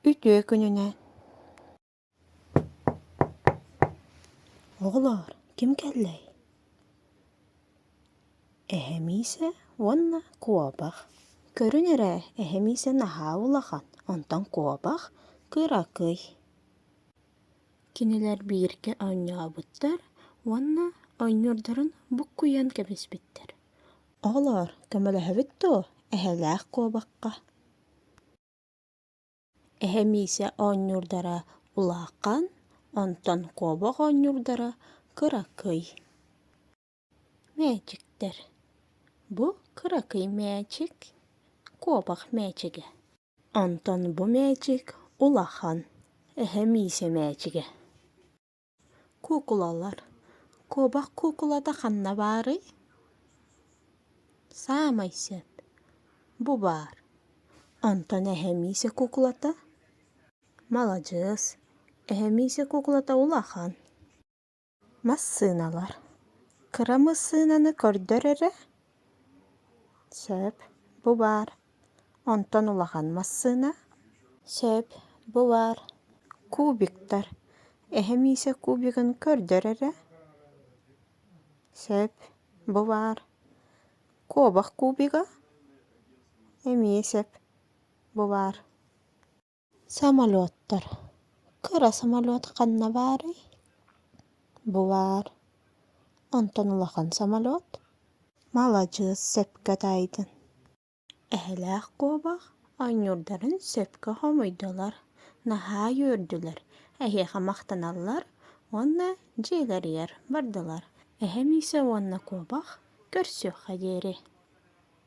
Үтүө күнүнэ! Оҕолоор, ким кэллэй? Эһэм Иисэ уонна куобах. Көрүн эрэ, эһэм Иисэ наһаа улахан, онтон куобах кыракый. Кинилэр бииргэ оонньообуттар уонна оонньуурдарын буккуйан кэбиспиттэр. Оҕолоор, көмөлөһөбүт дуо эһэлээх куобахха? Эһэ Миисэ оонньуурдара улахан, онтон куобах оонньуурдара кыракый мээчиктэр. Бу кыракый мээчик куобах мээчигэ. Онтон бу мээчик улахан, эһэ Миисэ мээчигэ. Куукулалар куобах куукулата ханна баарый? Саамай сиэн бу баар онтон эһэмиисэ куукулата маладьыас эһэмиисэ куукулата улахан массыыналар кыра массыынаны көрдөр эрэ Сөп, бу баар. Онтон улахан массыына. Сөп, бу баар. Кубиктар. Эһэм иисэ кубигын көрдөр эрэ. Сөп, бу баар. Куобах кубига. Эмиэ сөп, бу баар. Самолеттар. Кыра самолет ханна баарый? Бу баар. Онтон улахан самолет. Маладьыас сөпкө таайдын. Эһэлээх куобах оонньуурдарын сөпкө хомуйдулар, наһаа үөрдүлэр, эһиэхэ махтаналлар уонна дьиэлэригэр бардылар. Эһэм иисэ уонна куобах көрсүөххэ диэри